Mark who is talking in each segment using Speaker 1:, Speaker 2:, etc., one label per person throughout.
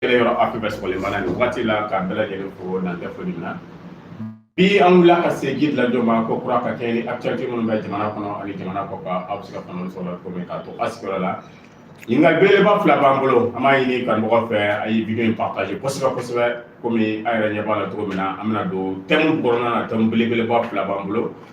Speaker 1: kɛlɛ yɔrɔ afi bɛ sɔgɔlen b'a la nin waati la k'a bɛɛ lajɛlen fo n'an tɛ foli min na bi an wulila ka se guide lajo ma ko kura ka kɛɲɛ ni actualité minnu bɛ jamana kɔnɔ ani jamana kɔ kan aw bɛ se ka faamuya sɔrɔ cogo min k'a to a sigiyɔrɔ la ɲininkali belebeleba fila b'an bolo an b'a ɲini kanumɔgɔ fɛ a ye video in partage kosɛbɛ kosɛbɛ komi an yɛrɛ ɲɛ b'a la cogo min na an bɛna don thème kɔnɔna na thème belebeleba fila b'an bolo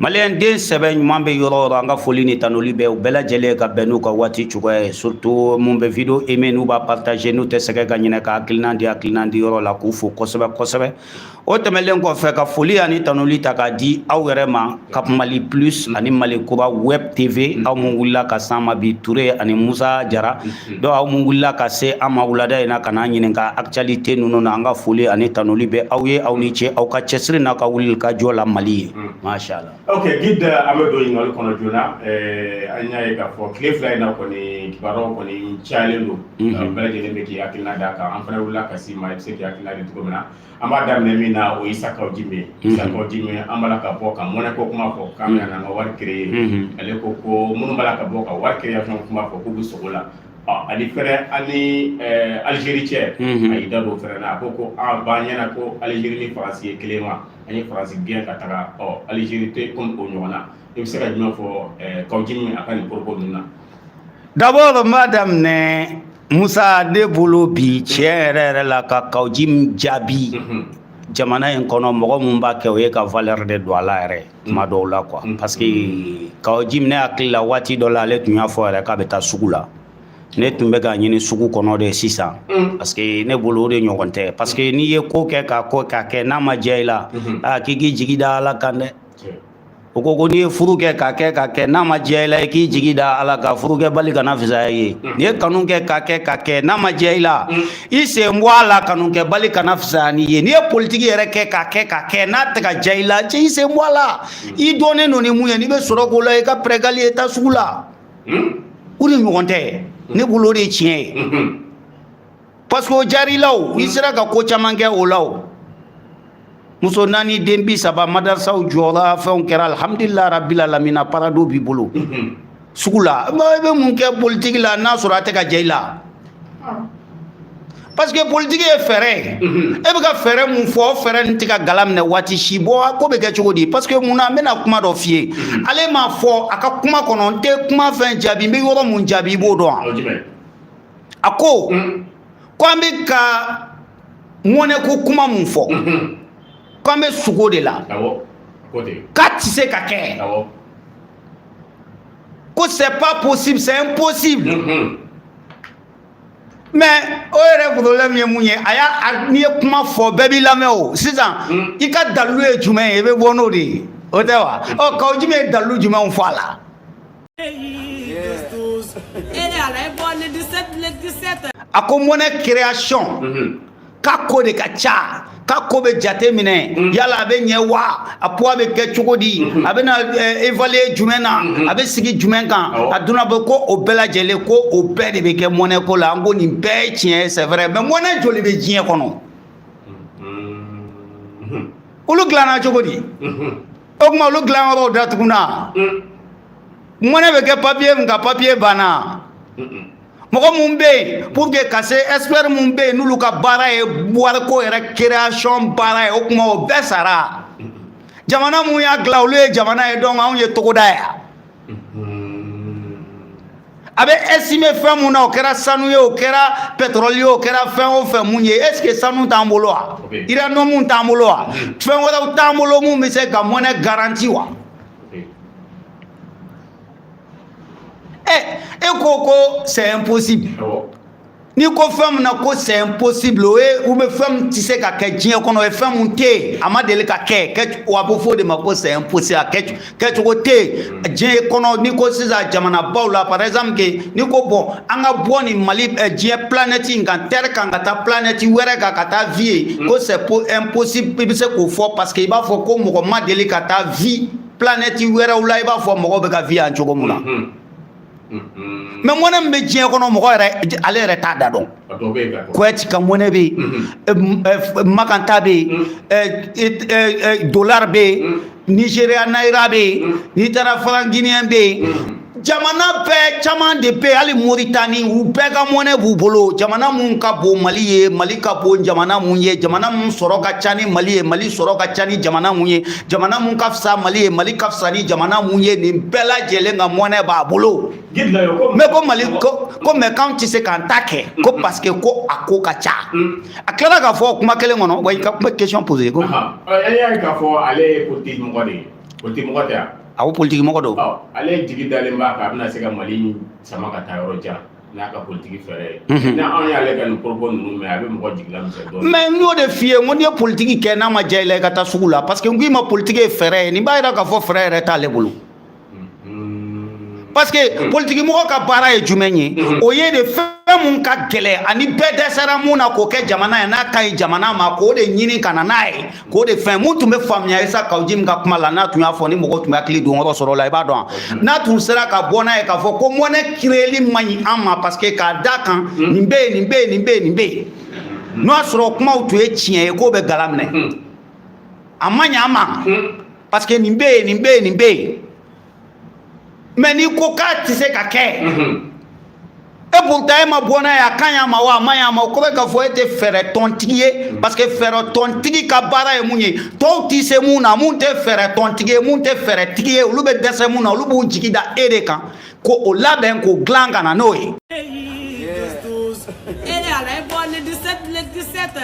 Speaker 1: maliyɛn den sɛbɛ ɲuman bɛ yɔrɔ o yɔrɔ an ka foli ni tanuli bɛ u bɛɛ lajɛlen ka bɛn n'u ka waati cogoya ye surtout mun bɛ video aimé n'u b'a partager n'u tɛ sɛgɛn ka ɲinɛ ka hakilinan di hakilinan di yɔrɔ la k'u fo kosɛbɛ kosɛbɛ o tɛmɛnlen kɔfɛ ka foli ani tanuli ta k'a di aw yɛrɛ ma ka mali plus ani mali kura web tv aw mun wulila ka s'an ma bi ture ani musa jara Donc aw mun wulila ka se an ma wulada in na ka n'an ɲininka actualité ninnu na an ka foli ani tanuli bɛ aw ye aw ni ce aw ka cɛsiri n'a ka wulikajɔ la mali ye mashallah ok guide an bɛ don ɲininkali kɔnɔ joona an y'a ye ka fɔ tile fila in na kɔni kibaru kɔni calen don bɛɛ lajɛlen bɛ k'i hakilina d'a kan an fana wulila ka s'i ma i bɛ se k'i hakilina di cogo min na an b'a daminɛ min na o ye Isa Kaw Jim ye mhm. Isa Kaw Jim an b'a la ka bɔ ka monnaie ko kuma fɔ k'an mhm. bɛna an ka wari créer mhm. ale ko ko minnu b'a la ka bɔ ka wari création kuma fɔ k'u bɛ sugo la ani fɛnɛ an ni eh, Algérie cɛ a y'i da don fɛnɛ na a ko ko a ah, b'an ɲɛna ko Algérie ni Faransi ye kelen wa an ye Faransi gɛn ka taga ɔ Algérie tɛ komi o ɲɔgɔn na i bɛ se ka jumɛn fɔ eh, Kaw Jim a ka nin propos ninnu na D'abord, n b'a daminɛ Musa ne bolo bi tiɲɛ yɛrɛ yɛrɛ la ka Kaw Jim jaabi mhm. jamana in kɔnɔ mɔgɔ minnu b'a kɛ o ye ka valeur de don a la yɛrɛ tuma mhm. dɔw la quoi mhm. parce que Kaw Jim ne hakili la waati dɔ la ale tun y'a fɔ yɛrɛ k'a bɛ taa sugu la ne tun bɛ k'a ɲini sugu kɔnɔ de sisan mm. parce que ne bolo o de ɲɔgɔn tɛ parce que n'i ye ko kɛ k'a ko k'a kɛ n'a ma diya i la aa k'i k'i jigi da ala kan dɛ o ko ko n'i ye furu kɛ ka kɛ ka kɛ n'a ma diya i la i k'i jigi da ala kan furu kɛbali kana fisaya i ye n'i ye kanu kɛ ka kɛ ka kɛ n'a ma diya i la i sen bɔ a la kanu kɛbali kana fisaya n'i ye n'i ye politiki yɛrɛ kɛ ka kɛ ka kɛ n'a tɛ ka diya i la cɛ i sen bɔ a la i dɔnnen don ni mun ye n'i bɛ sɔrɔ k'o la i ka pɛrɛgali ye taa sugu la o de ɲɔgɔn tɛ ne bolo o de ye tiɲɛ ye parce que o diyara i la i sera ka ko caman kɛ o la o muso naani den bisaba madarasaw jɔra fɛnw kɛra alhamdulillah rabbil alamina parado b'i bolo sugu la i bɛ mun kɛ politiki la n'a sɔrɔ a tɛ ka diya i la parce que politiki ye fɛɛrɛ ye e bɛ ka fɛɛrɛ mun fɔ o fɛɛrɛ nin tɛ ka gala minɛ waati si bɔ ko bɛ kɛ cogo di parce que mun na n bɛna kuma dɔ f'i ye ale m'a fɔ a ka kuma kɔnɔ n tɛ kuma fɛn jaabi n bɛ yɔrɔ mun jaabi i b'o dɔn wa. a ko mm. ko an bɛ ka mɔnɛko kuma mun fɔ mm-hmm. ko an bɛ sugo de la k'a tɛ se ka kɛ ko c'est pas possible c'est impossible mm-hmm. mais o yɛrɛ problème ye mun ye a y'a n'i ye kuma fɔ bɛɛ b'i lamɛn o sisan mm. i ka dalilu ye jumɛn ye i bɛ bɔ n'o de ye o tɛ wa ɔ kawu jimu ye dalilu jumɛn fɔ a la a ko mɔnɛ création mhm. k'a ko de ka ca k'a ko bɛ jate minɛ mhm. yala a bɛ ɲɛ wa a poids bɛ kɛ cogo di mhm. a bɛna eh, évaluer jumɛn na a bɛ sigi jumɛn kan a donna bɛ ko o bɛɛ lajɛlen ko o bɛɛ de bɛ kɛ mɔnɛ ko la an ko nin bɛɛ ye tiɲɛ ye c'est vrai mais mɔnɛ joli bɛ diɲɛ kɔnɔ olu dilanna cogo di o tuma olu dilanyɔrɔw datugunna mɔnɛ bɛ kɛ papiye min kan papiye banna mɔgɔ minnu bɛ yen pour que ka se expert minnu bɛ yen n'olu ka baara ye wariko yɛrɛ création baara ye o tuma o bɛɛ sara jamana minnu y'a dilan olu ye jamana ye donc anw ye togoda ye a bɛ estimer fɛn mun na o kɛra sanu ye o kɛra pétrole ye o kɛra fɛn o fɛn mun ye est-ce que sanu t'an bolo wa uranium t'an bolo wa fɛn wɛrɛw t'an bolo mun bɛ se ka mɔnɛ garanti wa ɛ e ko ko c'est impossible n'i ko fɛn min na ko c'est impossible o ye u bɛ fɛn min tɛ se ka kɛ diɲɛ kɔnɔ o ye fɛn min tɛ yen a ma deli ka kɛ kɛ wa a bɛ fɔ o de ma ko c'est impossible a kɛ kɛcogo tɛ yen diɲɛ kɔnɔ n'i ko sisan jamanabaw la par exemple que n'i ko bɔn an ka bɔ nin mali diɲɛ planète in kan terre kan ka taa planète wɛrɛ kan ka taa vie yen ko c'est impossible i bɛ se k'o fɔ parce que i b'a fɔ ko mɔgɔ ma deli ka taa vie planète wɛrɛw la i b'a fɔ mɔgɔw bɛ ka vie yan cogo min na. mɛ mɔnɛ min bɛ diɲɛ kɔnɔ mɔgɔ yɛrɛ ale yɛrɛ t'a da dɔn koweït ka mɔnɛ bɛ yen makan ta bɛ yen dolar bɛ yen nizeriya nayira bɛ yen n'i taara franc guinéen bɛ yen jamana bɛɛ caman de bɛ hali moritani u bɛɛ ka mɔnɛ b'u bolo jamana mun ka bon mali ye mali ka bon jamana mun ye jamana mun sɔrɔ ka ca ni mali ye mali sɔrɔ ka ca ni jamana mun ye jamana mun ka fisa mali ye mali ka fisa ni jamana mun ye nin bɛɛ lajɛlen ka mɔnɛ b'a bolo mɛ ko mali ko ko mɛ k'anw tɛ se k'an ta kɛ ko parce que ko a ko ka ca a tilala k'a fɔ kuma kelen kɔnɔ wa i ka kuma question posé ko e y'a ye k'a fɔ ale ye politiki mɔgɔ de ye politiki mɔgɔ tɛ yan a ko politiki mɔgɔ don ale jigi dalen b'a kan a bɛna se ka mali sama ka taa yɔrɔ jan N'a ka politigi fɛɛrɛ ye. Unhun. Ni anw y'ale ka nin propos ninnu mɛn, a bɛ mɔgɔ jigi lamisɛnya dɔɔni. Mais n y'o de f'i ye, n ko n'i ye politigi kɛ n'a ma diya i la, i ka taa sugu la parce que n k'i ma politigi ye fɛɛrɛ ye. Nin b'a jira k'a fɔ fɛɛrɛ yɛrɛ t'ale bolo. Parce que politigi mɔgɔ ka baara ye jumɛn ye? O ye de fɛn mun ka gɛlɛn ani bɛɛ dɛsɛra mun na k'o kɛ jamana ye, n'a ka ɲi jamana ma, k'o de ɲini ka na n'a ye. K'o de fɛn mun tun bɛ faamuya isa kaw jim ka kuma la n'a tun y'a fɔ ni mɔgɔ tun bɛ hakili don yɔrɔ sɔrɔ la i b'a dɔn n'a tun sera ka bɔ n'a ye k'a fɔ ko monnaie créerli man ɲi an ma parce que k'a da kan nin bɛ yen nin bɛ yen nin bɛ yen nin bɛ yen n'o y'a sɔrɔ kumaw tun ye tiɲɛ ye ko bɛɛ k'a laminɛ a man ɲi an ma parce que nin bɛ yen nin bɛ yen nin bɛ yen mais n'i ko k'a tɛ se ka kɛ mhm. e pourtant e ma bɔ n'a ye a ka ɲi an ma wa a man ɲi an ma o kɔrɔ k'a fɔ e tɛ fɛɛrɛ tɔntigi ye mhm. parce que fɛɛrɛ tɔntigi ka baara ye mun ye tɔw tɛ se mun na mun tɛ fɛɛrɛ tɔntigi ye mun tɛ fɛɛrɛ tigi ye olu bɛ dɛsɛ mun na olu b'u jigi da e de kan ko o labɛn k'o dilan ka na n'o ye.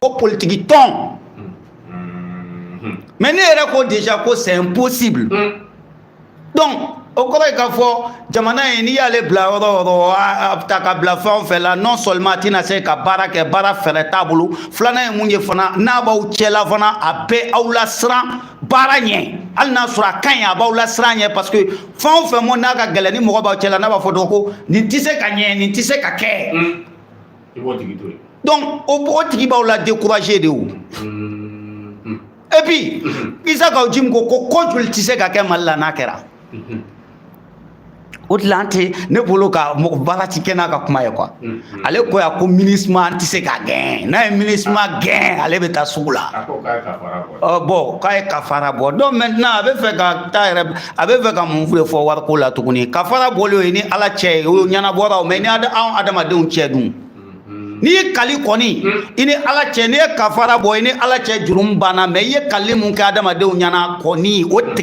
Speaker 1: ko politiki tɔn mais n'e yɛrɛ ko déjà ko c'est impossible donc o kɔrɔ ye k'a fɔ jamana ye n'i y'ale bila yɔrɔ o yɔrɔ a bɛ ta ka bila fɛn o fɛn la non seulement a tɛna se ka baara kɛ baara fɛɛrɛ t'a bolo filanan ye mun ye fana n'a b'aw cɛla fana a bɛ aw lasiran baara ɲɛ hali n'a sɔrɔ a ka ɲi a b'aw lasiran ɲɛ parce que fɛn o fɛn mo n'a ka gɛlɛn ni mɔgɔ b'aw cɛla n'a b'a fɔ dɔrɔn ko nin tɛ se ka ɲɛ nin tɛ se ka kɛ i b'o tigi to yen donc o tigi b'aw la découragé de o et puis isa kaw jim ko ko ko joli tɛ se ka kɛ mali la n'a kɛra o tila an tɛ ne bolo ka mɔgɔ baara ti kɛ n'a ka kuma ye quoi ale ko yan ko minusma an tɛ se k'a gɛn n'an ye minusma gɛn ale bɛ taa sugu la bon k'a ye kafara bɔ donc maintenant a bɛ fɛ ka taa yɛrɛ a bɛ fɛ ka mun de fɔ wariko la tuguni kafara bɔlen o y'i ni ala cɛ ye o ɲɛnabɔra o mais i ni anw adamadenw cɛ dun n'i y'i kali kɔni i ni ala cɛ n'i ye kafara bɔ i ni ala cɛ jurumu banna mais i ye kali mun kɛ adamadenw ɲɛna kɔni o tɛ